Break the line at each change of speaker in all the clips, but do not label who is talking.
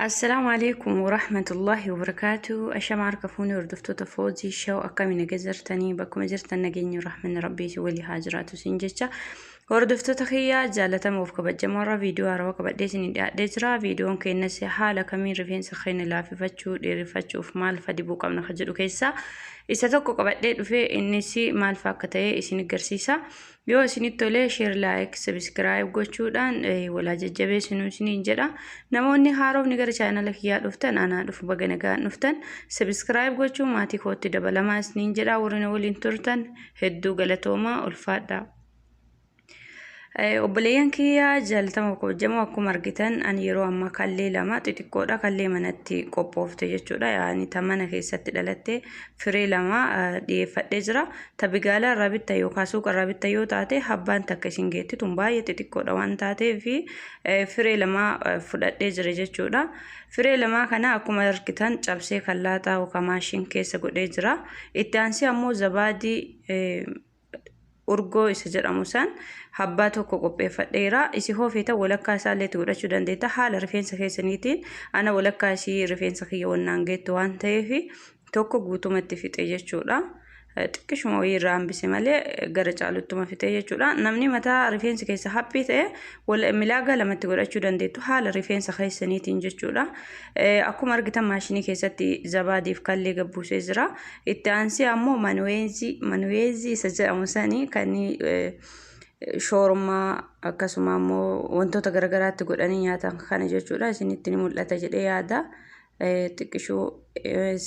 Assalaamu alaikum warahmatullahi wabarakatuh. Ashama harka fuunee hordoftoota foozii shaw akkami naga jirtanii bakkuma jirtan nageenyi rahmanni rabbii si walii haa jiraatu siin jecha. Hordoftoota kiyyaa jaalatamoo fi kabajamoo irra viidiyoo haarawaa qabadhee isin dhiyaadhee jira. Viidiyoon keenyas haala kamiin rifeensa keenya laaffifachuu, dheereffachuuf maal fa'aa dibuu qabna kan jedhu keessaa Isa tokko qabadhee dhufe innis maal faa akka ta'e isin garsiisa. Yoo isinitti tole share like subscribe gochuudhaan walaa jajjabeessinu isiniin jedha. Namoonni haarofni gara chaanala kiyyaa dhuftan anaa dhufu baga nagaan dhuftan subscribe gochuun maatii kootti dabalamaa isiniin jedha warri na waliin turtan hedduu galatoomaa ulfaadhaa. Obboleeyyan kiyyaa jaaltama kabajamoo akkuma argitan ani yeroo ammaa kallee lama xixiqqoodha kallee manatti qophoofte jechuudha yaani ta mana keessatti dhalatte firee lama dhiyeeffadhee jira ta bigaalaa irraa bitta yookaan suuqa irraa bitta yoo taate habbaan takka isin geetti tun baay'ee xixiqqoodha waan taatee fi firee lama fudhadhee jira jechuudha firee lamaa kana akkuma argitan cabsee kallaataa yookaan maashiin keessa godhee jira itti aansee ammoo zabaadii urgoo isa jedhamu san habbaa tokko qopheeffadheera isi hoofeeta walakkaa isaa illee itti godhachuu dandeetta haala rifeensa keessaniitiin ana walakkaa isii rifeensa kiyya wannaan geettu waan ta'eef tokko guutumatti fixe jechuudha. xiqqishuma wayii irraa hambise malee gara caaluttuma fixee jechuudha namni mataa rifeensi keessa haphii ta'e Wal milaagaa lamatti godhachuu dandeettu haala rifeensa keessaniitiin jechuudha. Akkuma argitan maashinii keessatti zabaadiif kallee gabbuusee jira. Itti aansee ammoo manuweezii manuweezii isa jedhamu sanii kan shoormaa akkasuma ammoo wantoota garaagaraatti godhanii nyaatan kana jechuudha. Isinitti ni mul'ata jedhee yaada. Xiqqishuu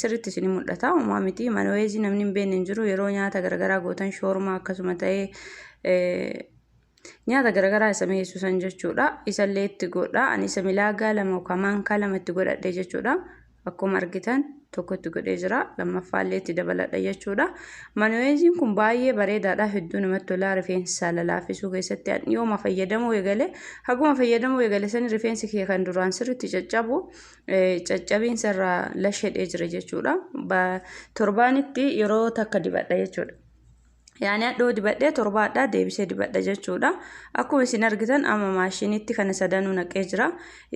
sirriitti isin mul'ata. Uumaa miti manuweezii namni hin beekne hin jiru yeroo nyaata garaagaraa gootan shoormaa akkasuma ta'ee Nyaata garagaraa isa mi'eessu san jechuudha. Isallee itti godha. Ani isa milaagaa lama yookaan maankaa lama itti godhadhe jechuudha. Akkuma argitan tokko itti godhee jira. Lammaffaa illee itti dabaladha jechuudha. Manuweeziin kun baay'ee bareedaadha. Hedduu namatti tolaa rifeensa lalaafisuu keessatti ani yooma fayyadamuu eegale. Haguma fayyadamuu eegale sani rifeensi kee kan duraan sirriitti caccabu caccabiinsa irraa lashedhee jira jechuudha. Torbaanitti yeroo takka dibadha jechuudha. Yaani hadhoo dibadhee torba hadhaa deebisee dibadha jechuudha. Akkuma isin argitan amma maashiniitti kana sadanuu naqee jira.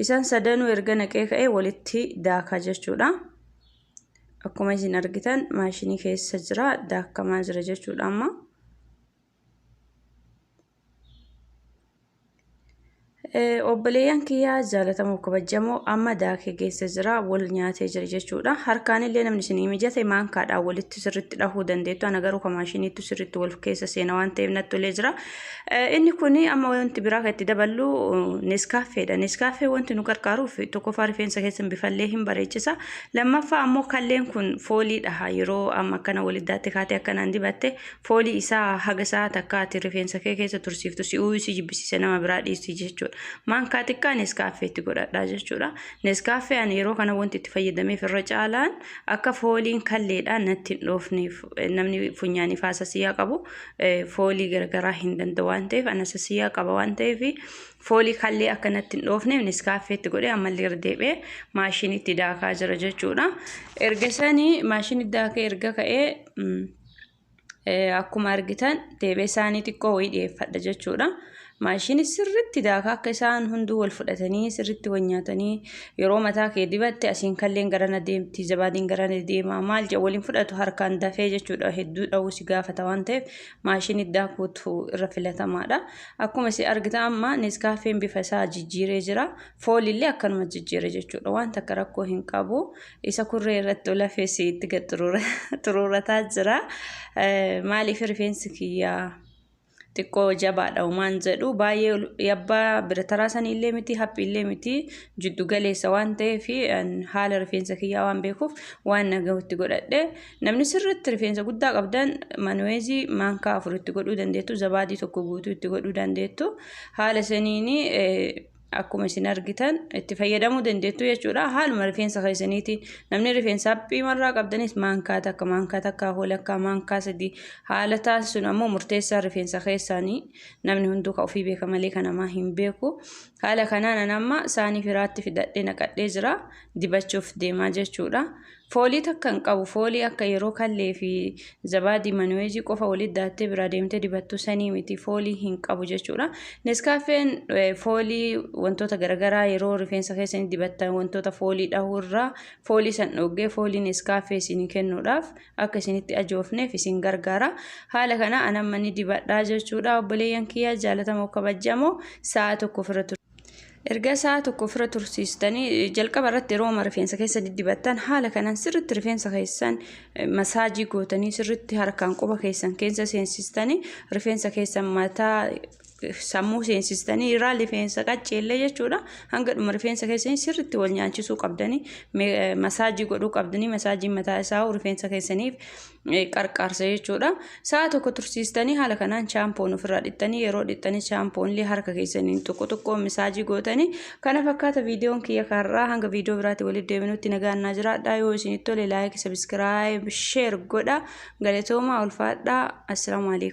Isaan sadanuu erga naqee ka'ee walitti daakaa jechuudha. Akkuma isin argitan maashinii keessa jira daakamaa jira jechuudha amma. Obboleeyyan kiyyaa jaalatamoo kabajamoo amma daakee geessa jira wal nyaatee jira jechuudha. Harkaan illee namni isin mijate maankaadhaan walitti sirriitti dhahuu dandeettu. Ana garuu kamaashiniitu sirriitti wal keessa seena waan ta'eef natti ulee jira. Inni kun amma wanti biraa kan itti daballu neskaafeedha. Neskaafee wanti nu gargaaruuf tokkoffaa rifeensa keessan bifallee hin bareechisa. Lammaffaa ammoo kalleen kun fooliidha. Yeroo amma akkana waliddaatti kaatee akkanaan dibatte Foolii isaa haga sa'a takkaatiin rifeensa kee keessa tursiiftu si'uu si jibbisiise nama biraa dhiisii jechuudha. Maankaa xiqqaa Neeskaaffee itti godhadhaa jechuudha. Neeskaaffee ani yeroo kana wanti itti fayyadameef irra caalaan akka fooliin kalleedhaan natti hin dhoofneef namni funyaaniif haasasiyyaa qabu foolii garagaraa hin danda'u waan ta'eef anasasiyyaa qaba waan ta'eef foolii kallee akka natti hin dhoofneef Neeskaaffee itti godhee ammallee irra deebi'ee maashiniitti daakaa jira jechuudha. Erga sanii maashiniitti daakee erga ka'ee akkuma argitan deebee isaanii xiqqoo wayii dhiyeeffadha jechuudha. Maashinii sirriitti daakaa akka isaan hunduu wal fudhatanii sirriitti wal nyaatanii yeroo mataa kee dibatte asiin kalleen garana deemti zabaadiin garana deema maal jedhu waliin fudhatu harkaan dafee jechuudha hedduu dha'uu si gaafata waan ta'eef maashinii daakuutu irra filatamaadha. Akkuma si argitan amma neeskaafeen bifa isaa jijjiiree jira foolillee akkanuma jijjiire jechuudha waan takka rakkoo hin qabu Isa kurree irratti ol hafeessi itti gad xuruurataa jira. Maaliif rifeensi kiyyaa xiqqoo jabaadha umaan jedhu baay'ee yabbaa birataraa saniillee miti haphiillee miti jiddu galeessa waan ta'eef haala rifeensa kiyyaa waan beekuuf waan nagahutti godhadhe namni sirriitti rifeensa guddaa qabdan manuweezii maankaa afur itti godhuu dandeettu zabaadii tokko guutuu itti godhuu dandeettu haala saniin Akkuma isin argitan itti fayyadamuu dandeettu jechuudha. Haaluma rifeensa keessaniitiin namni rifeensa haphii marraa qabdanis maankaa takka, maankaa takka, holakkaa, maankaa sadii haala taasisuun ammoo murteessaa rifeensa keessaanii namni hunduu ka ofii beeka malee kan namaa hin beeku. Haala kanaan an amma saanii firaatti fidadhee naqadhee jira dibachuuf deemaa jechuudha. Foolii takka hin qabu foolii akka yeroo kallee fi zabaadii manuweejii qofa walitti daattee biraa deemtee dibattu sanii miti foolii hin qabu jechuudha. Neskaaffeen foolii wantoota garagaraa yeroo rifeensa keessanii dibattan wantoota foolii dhahuu irraa foolii san dhoggee foolii neskaaffee isinii kennuudhaaf akka isinitti ajoofneef isin gargaara. Haala kana anamma ni dibadhaa jechuudha obboleeyyan kiyya jaalatamoo kabajjamoo sa'a tokko ofirra ture. Erga sa'a tokko ofirra tursiistanii jalqaba irratti yerooma rifeensa keessa diddibattan haala kanaan sirriitti rifeensa keessan masaajii gootanii sirriitti harkaan quba keessan keessa seensistanii rifeensa keessan mataa sammuu seensistanii irraa rifeensa qacceellee jechuudha hanga dhuma rifeensa keessanii sirriitti wal nyaachisuu qabdanii masaajii godhuu qabdanii masaajiin mataa isaa rifeensa keessaniif qarqaarsa jechuudha. Sa'a tokko tursiistanii haala kanaan chaampoon ofirraa dhiqxanii yeroo dhiqxanii chaampoon illee harka keessaniin xiqqoo xiqqoo misaajii gootanii kana fakkaata viidiyoon kiyya kanarraa hanga viidiyoo biraatti walitti deebinutti nagaan naa jiraadhaa yoo isinitti tole laayik sabiskiraayib sheer godha galatoomaa ulfaadhaa assalaamu alaikum.